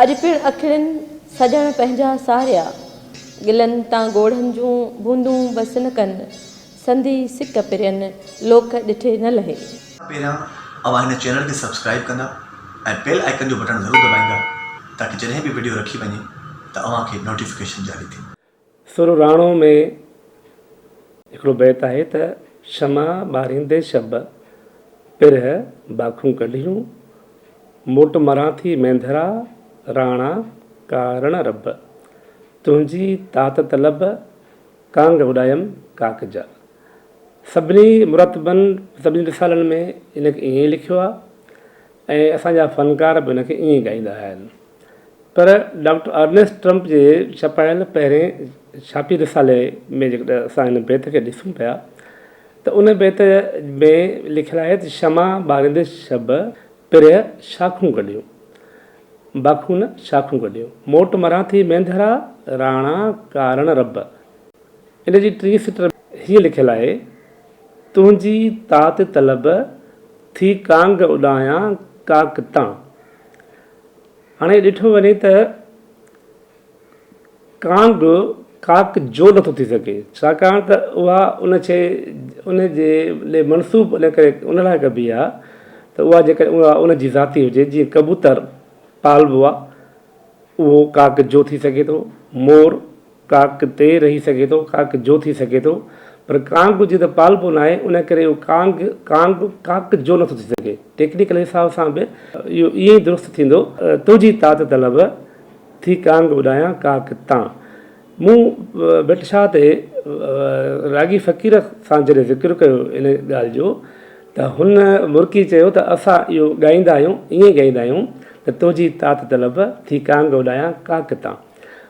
اڄ پڻ اکڙين سڄڻ پنهنجا ساريا، گلن تان ڳوڙهن جون بوندون بس نه ڪن، سندي سڪ پرين لوڪ ڏٺي نه لهي. پهريان اوهان هن چينل کي سبسڪرائيب ڪندا ۽ بيل آئيڪن جو بٽڻ ضرور دٻائيندا تاڪه جڏهن به وڊيو رکي وڃي ته اوهان کي نوٽيفڪيشن جاري ٿي. سر راڻو ۾ هڪڙو بيت آهي ته، شمع ٻاريندي شب پرهه باکون ڪڍيون، موٽ مران ٿي مينڌرا راڻا ڪارڻ رب، تنهنجي تات طلب ڪانگ اڏايم ڪاڪ جا. سڀني مرتبن سڀني رسالن ۾ ان کي ائين لکيو آهي. ۽ اسان جا فنڪار به ان کي ائين ڳائيندا آهن. پر ڊاڪٽر ارنيسٽ ٽرمپ جي ڇپايل پهرين ڇاپي رسالي ۾ جيڪڏهن اسان هن بيت کي ڏسون پيا ته ان بيت ۾ لکيل آهي ته شمع ٻاريندي شب پرهه شاخون ڪڍيون، باخون نه شاخون ڪڍيون، موٽ مران ٿي مينڌرا راڻا ڪارڻ رب. ان جي ٽين سٽر ۾ هيئن لکيل آهي. تنهنجي تات طلب ٿي ڪانگ اڏايان ڪاڪ تان. هاڻي ڏٺو وڃي ته ڪانگ ڪاڪ جو نٿو ٿي سگهي ڇاڪاڻ ته اها ان شيء ان جي لئه منسوب ان ڪري ان لاء ڪبي آهي ته اها جيڪڏهن اها ان جي ذاتي هجي جيئن ڪبوتر پالبو آهي اهو ڪاڪ جو ٿي سگهي ٿو، مور، ڪاڪ تي رهي سگهي ٿو، ڪاڪ جو ٿي سگهي ٿو، پر ڪانگ جي ته پالپو ناهي، ان ڪري اهو ڪانگ، ڪانگ، ڪاڪ جو نٿو ٿي سگهي. ٽيڪنيڪل حساب سان به اهو ائين ئي درست ٿيندو. تنهنجي تات طلب ٿي ڪانگ اڏايان ڪاڪ تان. مون ڀٽ شاهه تي راڳي فقير سان جڏهن ذڪر ڪيو ان ڳالهه جو ته هن مرڪي چيو ته اسان اهو ڳائيندا آهيون، ائين ڳائيندا آهيون ته تنهنجي تات طلب ٿي ڪانگ اڏايان ڪاڪ تان.